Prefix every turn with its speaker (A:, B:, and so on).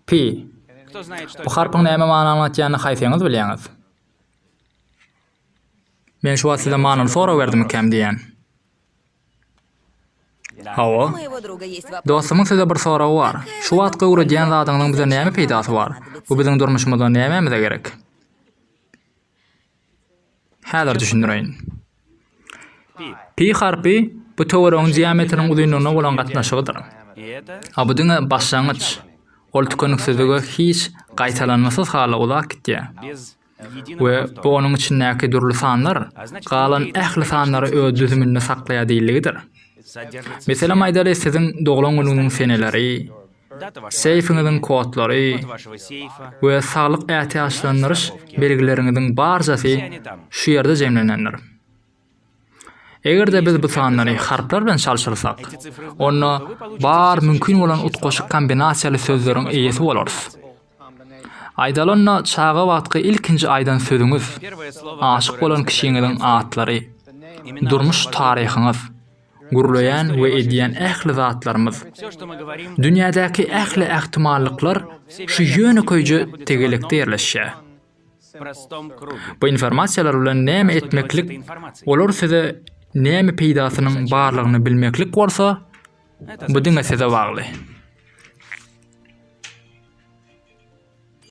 A: Pi.
B: Bu harpyň näme many aňlatýanyny
A: haýsyňyz bilýäňiz? Men şu wagt size manyny soraberdim ikäm diýýän.
C: Hawa. Dostumyň size bir soragy
A: bar. Şu wagtky öwredýän zadyňyzyň bize näme peýdasy bar? Bu biziň durmuşymyzda nämämize gerek? Häzir düşündireýin. Pi harpy, bu töweregiň diametriniň uzynlygyna bolan gatnaşygydyr.
B: A bu diňe başlangyç.
A: Ol tükeniksizlige hiç gaýtalanmasyz hala uzap gitýär.
B: we bu onuň
A: içindäki
B: dürli
A: sanlar galan ähli sanlary öz düzüminde saklaýar diýildigidir.
B: Meselem aýdaly,
A: siziň doglan günüňiziň seneleri,
B: seýfiňiziň kodlary we saglyk
A: ätiýaçlandyryş belgileriňiziň barjasy şu ýerde jemlenendir. Eger-de biz bu sanlary harplar bilen çalşyrsak, onda bar mümkin bolan utgaşyk kombinasiýaly sözleriň eýesi bolarys. Aýdalynda çaga wagtky ilkinji aýdan sözüňiz, aşyk
B: bolan kişiňiziň
A: atlary, durmuş taryhyňyz, gürleýän we edýän ähli zatlarymyz,
B: dünýädäki ähli
A: ähtimallyklar şu ýönekeýje tegelekde ýerleşýär.
B: Bu informasiýalar
A: bilen näme etmeklik, olar size näme peýdasynyň barlygyny bilmeklik bolsa, bu diňe size bagly.